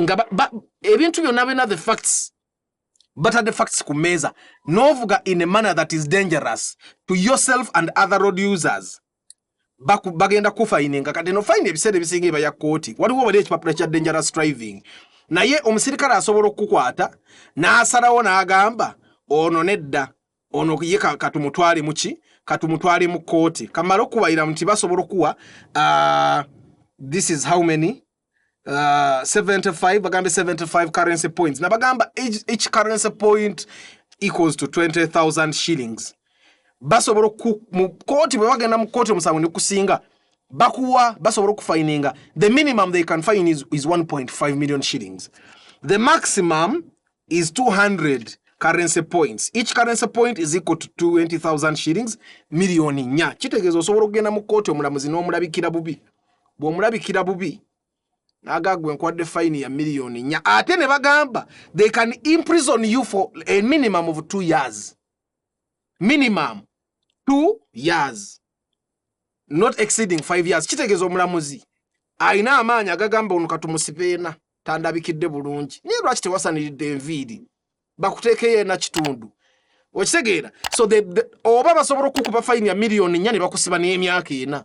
nga ba, ba, ebintu byonna byonna the facts batadde facts ku mmeeza n'ovuga in a manner that is dangerous to yourself and other road users bagenda kufayininga kati no fayina ebiseera ebisinga eba ya kooti waliwo wali ekipapula kya dangerous driving naye omusirikale asobola okukukwata n'asalawo n'agamba ono nedda ono ye katumutwale muki katumutwale mu kooti kamala okubayira nti basobola okuwa uh, this is how many Uh, 75 bagambe 75 currency points nabagamba each, each currency point equals to 20000 shillings basobola mu kooti bwe bagenda mu kooti omusango ne kusinga bakuwa basobola okufayininga the minimum they can fine is, is 1.5 million shillings the maximum is 200 currency points each currency point is equal to 20000 shillings millioni nya kitegeeza osobola okugenda mu kooti omulamuzi n'omulabikira bubi bw'omulabikira bubi naga gwe nkwadde fayini ya miliyoni nnya ate ne bagamba they can imprison you for a minimum of two years minimum two years not exceeding five years kitegeeza omulamuzi alina amaanyi agagamba ono katumusibeena tandabikidde bulungi naye lwaki tewasaniridde enviiri bakuteekeyo ena kitundu okitegeera so the, the, oba basobola okukuba fayini ya miliyoni nnya ne bakusiba n'emyaka ena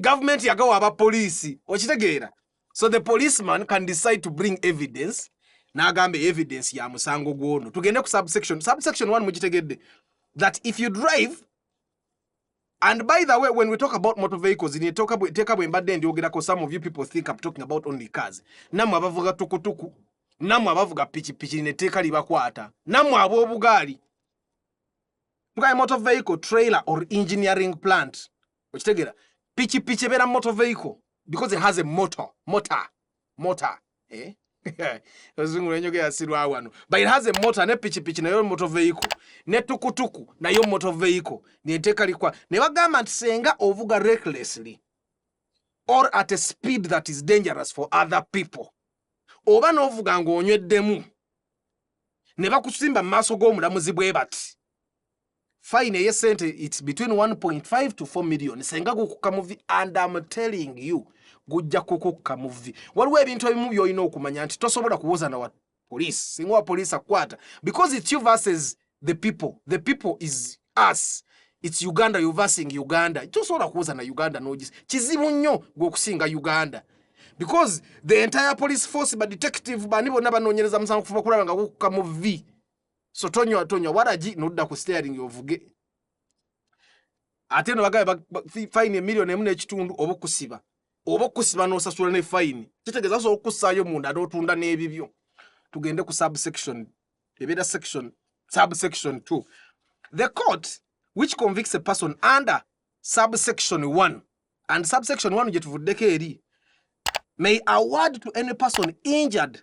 government yagawa aba police okitegeera so the policeman can decide to bring evidence nagamba evidence ya musango gwono tugende ku subsection subsection 1 mugitegedde that if you drive and by the way when we talk about motor vehicles in talk about take up embadde ndyogerako some of you people think i'm talking about only cars namwe abavuga tukutuku namwe abavuga pikipiki neteeka libakwata namwe ab'obugaali tukaye motor vehicle trailer or engineering plant okitegera piki piki ebera motor vehicle because it has a motor motor motor eh ozungu lenyo ya sirwa wano but it has a motor ne piki piki nayo motor vehicle ne tukutuku nayo motor vehicle ne teka likwa ne bagamba ntisenga ovuga recklessly or at a speed that is dangerous for other people oba novuga ngo onyeddemu ne bakusimba maso go mulamuzi bwe bati fine eye sente its between 1.5 to 4 million senga gukukka muvi and am telling you gujja kukukka muvi waliwo ebintu ebimu byolina okumanya nti tosobola kuwoza na wa police singa wa police akwata because its you versus the people the people is us its uganda you versing uganda tosobola kuwoza na uganda nogis kizibu nnyo gweokusinga uganda because the entire police force ba detective bani bonna banonyereza musango kuva kulaba nga gukukka muvi so tonywa tonywa waragi nodda ku staring ovuge ate no bagabe fine million emu n'ekitundu oba okusiba oba okusiba n'osasula ne fine kitegeeza so okussaayo munda n'otunda n'ebibyo tugende ku subsection ebeera section subsection two the court which convicts a person under subsection one and subsection one gye tuvuddeko eri may award to any person injured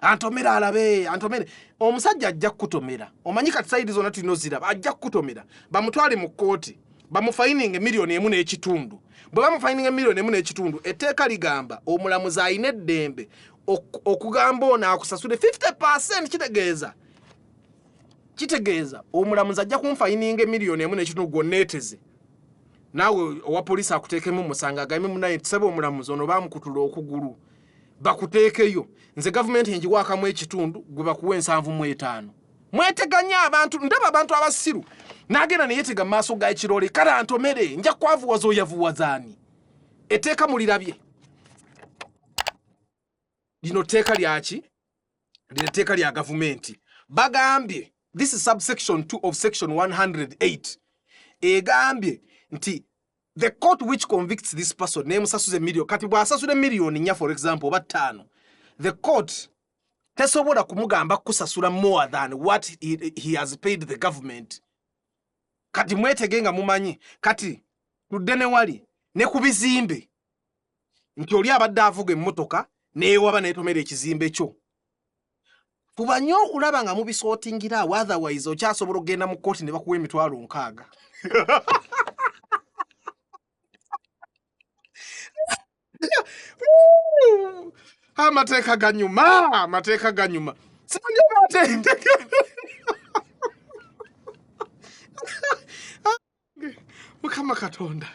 antomera alabe antomere omusajja ajja kukutomera omanyi kati sayidi zona tulina oziraba ajja kukutomera bamutwale mu kkooti bamufayininga emiliyoni emu n'ekitundu bwe bamufayininga emiliyoni emu n'ekitundu etteeka ligamba omulamuzi alina eddembe okugamba ono akusasule 50 percent kitegeeza kitegeeza omulamuzi ajja kunfayininga emiliyoni emu n'ekitundu gwonneeteze naawe owa poliisi akuteekemu omusango agambye munaye tusaba omulamuzi ono baamukutula okugulu bakuteekeyo nze gavumenti enjiwaakamu ekitundu gwe bakuwa ensanvu mu etaano mweteganya abantu ndaba abantu abasiru nagenda neyetega mu maaso ga ekirole kale antomere nja kwavuwaza oyavuwazaani eteeka mulirabye lino teeka lyaki lino teeka lya gavumenti bagambye this is subsection 2 of section 108 egambye nti the court which convicts this person nemusasuza emillion kati bwasasula emiliyoni nya for example oba ttaano the court tesobola kumugamba kukusasula more than what he, he has paid the government kati mwetege nga mumanyi kati tudde newali ne ku bizimbe nti oli abadde avuga emmotoka neyewaba netomera ekizimbe kyo Fuba nnyo okulaba nga mubisotingira awo otherwise okyasobola okugenda mu kkooti ne bakuwa emitwalo nkaaga. Amateeka ganyuma, amateeka ganyuma. Sibanye batende. mukama katonda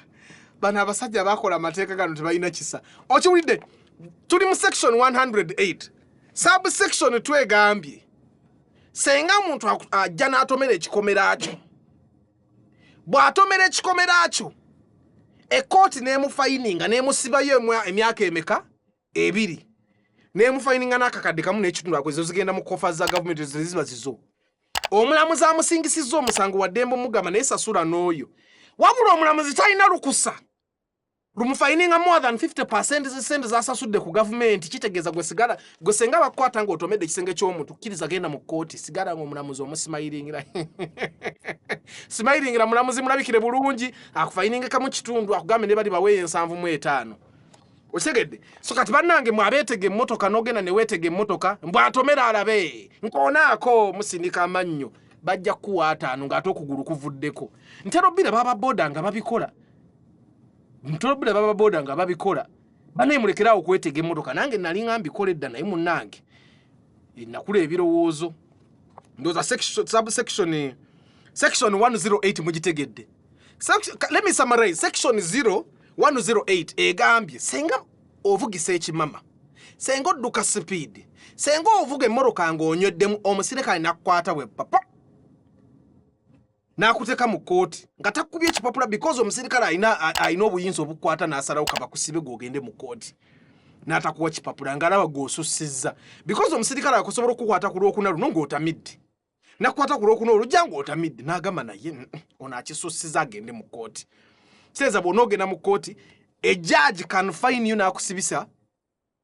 bano abasajja bakola amateeka gano tebalina kisa okiwulidde tuli mu section 108 subsection twegambye senga omuntu ajja n'atomera ekikomera kyo bw'atomera ekikomera kyo ekkooti n'emufayininga n'emusibayo emyaka emeka ebiri nemufayininga n'akakadde kamu n'ekitundu ako ezo zigenda mu kofa za gavumenti ezo zeziba zizo omulamuzi amusingisizza omusango waddembe omugamba naye sasula n'oyo wabula omulamuzi talina lukusa lumufayininga more than 50 percent zesente zasasudde ku gavumenti kitegeeza gwe sigala gwe senga bakukwata nga otomedde ekisenge ky'omuntu kkiriza genda mu kkooti sigala nga omulamuzi omusimayiringira simayiringira mulamuzi mulabikire bulungi akufayiningekamu kitundu akugambe ne bali baweeyo ensanvu mu etaano okitegedde so kati bannange mwe abeetega emmotoka n'ogenda ne weetega emmotoka mbwatomera alabe nkoonaako musindika amannyo bajja kukuwa ataano ng'ate okugulu kuvuddeko nterobbira baba booda nga babikola nterobbira baba booda nga babikola banaye mulekeraawo okwetega emmotoka nange nali nga mbikola edda naye munnange eh, nakula ebirowoozo ndooza section 108 mugitegedde let me summarize section 0 108 egambye senga ovugisa ekimama senga odduka sipiidi senga ovuga emmoroka ng'onyweddemu omusirikale nakukwata bwe papa n'akuteeka mu kkooti nga takubye ekipapula because omusirikale alina obuyinza obukwata n'asalawo kabakusibe gwogende mu kkooti n'atakuwa kipapula ng'alaba gw'osussizza because omusirikale akusobola okukwata ku lwokuna luno ng'otamidde nakwata ku lwokuna olujja ng'otamidde n'agamba naye ono akisussiza agende mu kkooti seeza bwona ogenda mu kkooti ejaaji kanfainiyo n'akusibisa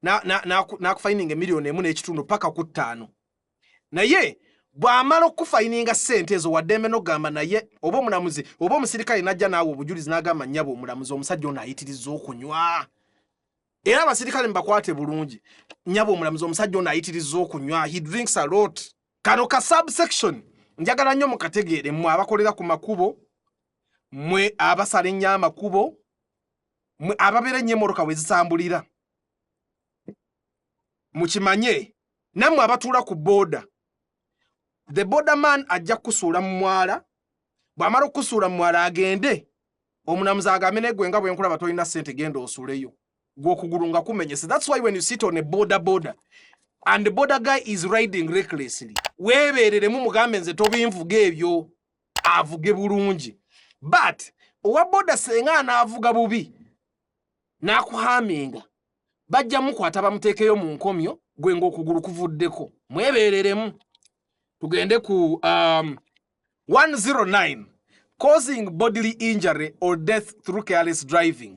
n'akufaininga emiliyoni emu n'ekitundu paka ku ttaano naye bw'amala okukufaininga ssente ezo waddembe n'ogamba naye oba omulamuzi oba omusirikale n'ajja naawe obujulizi n'agamba nnyabo omulamuzi omusajja ono ayitiriza okunywa era abasirikale mubakwate bulungi nyabo omulamuzi omusajja ono ayitiriza okunywa he drinks a lot kano ka subsection njagala nnyo mukategeere mwe abakolera ku makubo mwe abasala ennyo amakubo mwe ababeera ennyo emmotoka we zitambulira mukimanye nammwe abatuula ku booda the border man ajja kukusuula mu mwala bw'amala okukusuula mu mwala agende omunamuzi agambe naye gwe nga bwe nkulaba tolina ssente genda osuleyo gwokugulu nga kumenyese that's why when you sit on a border border and the border guy is riding recklessly webereremu mugambe nze tobinvuga ebyo avuge bulungi but owa boda senga anaavuga bubi n'akuhaminga bajja mukwata bamuteekeyo mu nkomyo gwe ng'okugulu kuvuddeko mwebereremu tugende ku um, 109 causing bodily injury or death through careless driving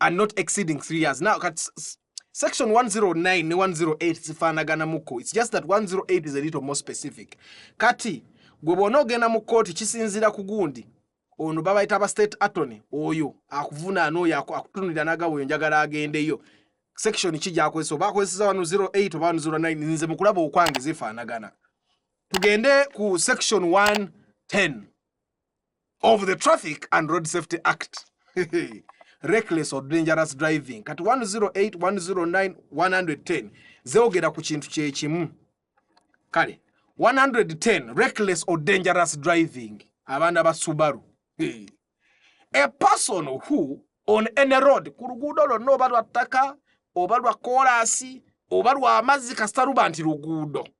and not exceeding 3 years now kat section 109 ne 108 zifanagana muko it's just that 108 is a little more specific kati gwe bona ogenda mu kooti kisinzira ku gundi ono babayita ba state attorney oyo akuvunaana oyo akutunulira nagabo oyo njagala agendeyo section ki gyakozesa oba akozeseza wano 08 oba 09 nze mukulaba okwange zifaanagana tugende ku section 110 of the traffic and road safety act reckless or dangerous driving kati 10810910 zeogera ku kintu kyekimu kale 110 reckless or dangerous driving abaana ba subaru hey. a person who on any road ku luguudo lwonna oba lwa ttaka oba lwa koolaasi oba lwa mazzi kasita luba nti luguudo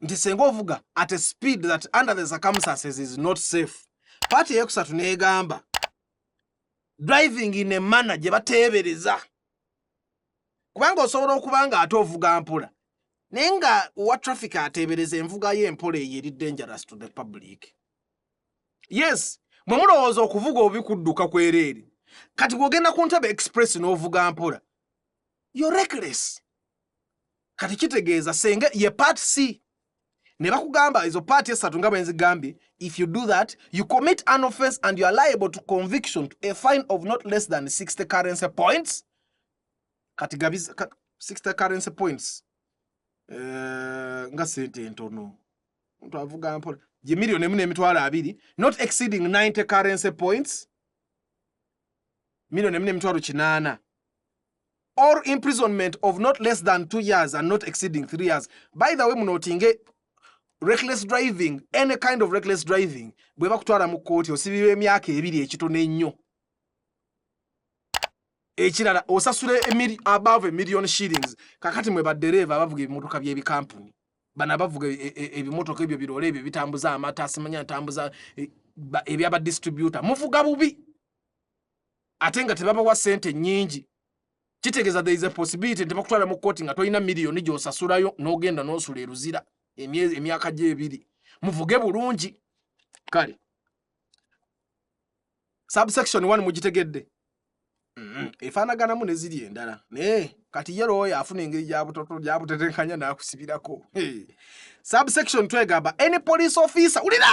nti senga ovuga at a speed that under the circumstances is not safe paati eyokusatu negamba driving in a manner gye bateebereza kubanga osobola okuba nga ate ovuga mpola naye nga owa traffic ateebereza envuga yo empola eyo eri dangerous to the public yes mwe mulowooza okuvuga obi kudduka kwereere kati bwogenda ku ntebe express n'ovuga mpola yo reckless kati kitegeeza senge ye part c ne bakugamba ezo part esatu nga bwenzigambye if you do that you commit an offense and you are liable to conviction to a fine of not less than 60 currency points kati gabi 60 currency points uh, nga sente entono mtu avuga mpola ye milioni emu n'emitwalo abiri not exceeding 90 currency points milioni emu n'emitwalo kinaana or imprisonment of not less than two years and not exceeding three years by the way munotinge reckless driving any kind of reckless driving bwe bakutwala mu kkooti osibirwa emyaka ebiri ekitono ennyo ekirala osasula above million shillings kakati mwe baddereeva abavuga ebimotoka by'ebikampuni bano abavuga e, e, ebimotoka ebyo birole ebyo bitambuza amata simanya ntambuza e, ebyabadistributa muvuga bubi ate nga tebabawa sente nyingi kitegeza there is a possibility nti bakutwala mu kkooti nga tolina miliyoni gyosasulayo n'ogenda n'osula eruzira emyaka gyebiri muvuge bulungi kale subsection one mugitegedde mm-hmm. efaanaganamu ne ziri endala naye kati ye looyo afuna engeri gyabutetenkanya n'akusibirako subsection two egamba any police officer wulira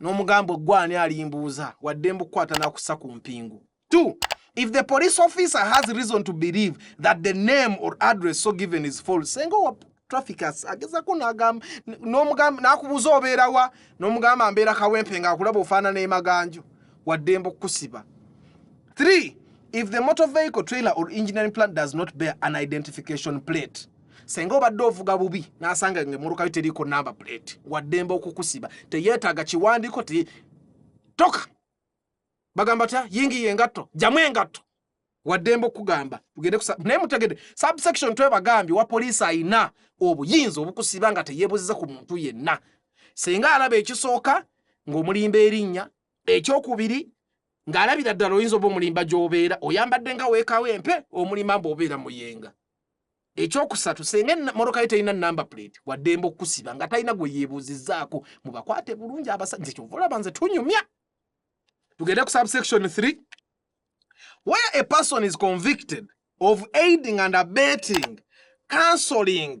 n'omugamba eggwa ani alimbuuza wadde mbukwata nakussa ku mpingu two if the police officer has reason to believe that the name or address so given is false senga owa traffic agezako nagamba n'omugamba nakubuuza obeerawa n'omugamba mbeera kawempe nga akulaba ofaanana emaganjo wadde mbukusiba three if the motor vehicle trailer or engineering plant does not bear an identification plate senga obadde ovuga bubi nasanga nga emotoka yo teriiko number plate waddemba okukusiba teyeetaaga kiwandiiko te toka bagamba tya yingiye engatto jamu engatto waddemba okugamba tugende naye mutegede subsection twebagambye wa poliisi ayina obuyinza obukusiba nga teyebuziza ku muntu yenna senga alaba ekisooka ng'omulimba erinnya ekyokubiri ng'alabira ddala oyinza oba omulimba gy'obeera oyambadde nga weekawo empe omulima mba obeera muyenga ekyokusatu senga emmotoka ye terina number plate waddembe okukusiba nga talina gwe yeebuuzizaako mubakwate bulungi abasajja kyova olaba nze tunyumya tugende ku subsection 3 where a person is convicted of aiding and abetting cancelling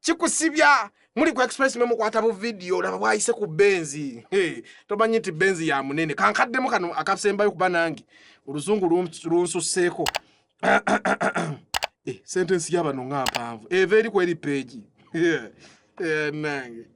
kikusibya muli ku express mwe mukwata bu video laba bwayise ku benzi hey, tomanyi nti benzi ya munene kankaddemu kano akasembayo kuba nange oluzungu lunsusseeko eh, sentensi yabano nga mpanvu eva eri ku eri peegi eh, nange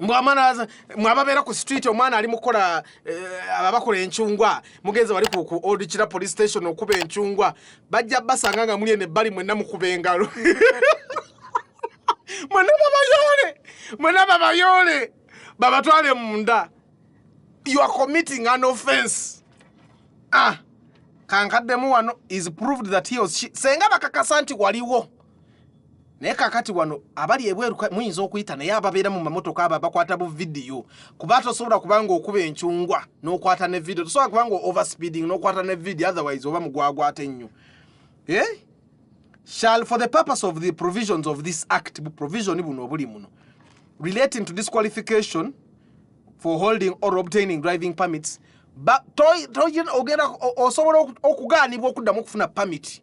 mwamana mwababeera ku street omwana ali mukola eh, ababakola enchungwa mugenze wali ku ku old chira police station okuba enchungwa bajja basanga nga muli ene bali mwenna mukuba engalo mwenna babayole mwenna babayole babatwale munda you are committing an offense ah kankaddemu wano is proved that he was she senga bakakasa nti waliwo naye kakati wano abali ebweru muyinza okuyita naye ababeera mu mamotoka abo abakwata bu vidiyo kuba tosobola kubanga okuba encungwa n'okwata ne vidiyo tosobola kubanga overspeeding n'okwata ne vidiyo otherwise oba mugwagwate nnyo eh? shall for the purpose of the provisions of this act bu provision buno obuli muno relating to disqualification for holding or obtaining driving permits ogenda osobola okugaanibwa okuddamu okufuna pamiti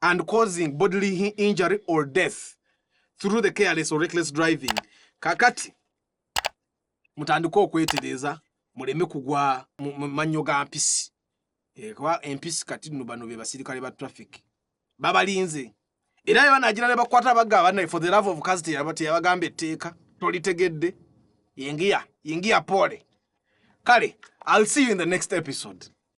and causing bodily injury or death through the careless or reckless driving kakati mutandike okwetereza muleme kugwa mu mannyo ga mpisi eh, kuba empisi kati no bano be basirikale ba traffic babalinze era bye banagira ne bakwata bagaba naye for the love of kazi teyabagamba etteeka tolitegedde yingiya yingiya pole kale i'll see you in the next episode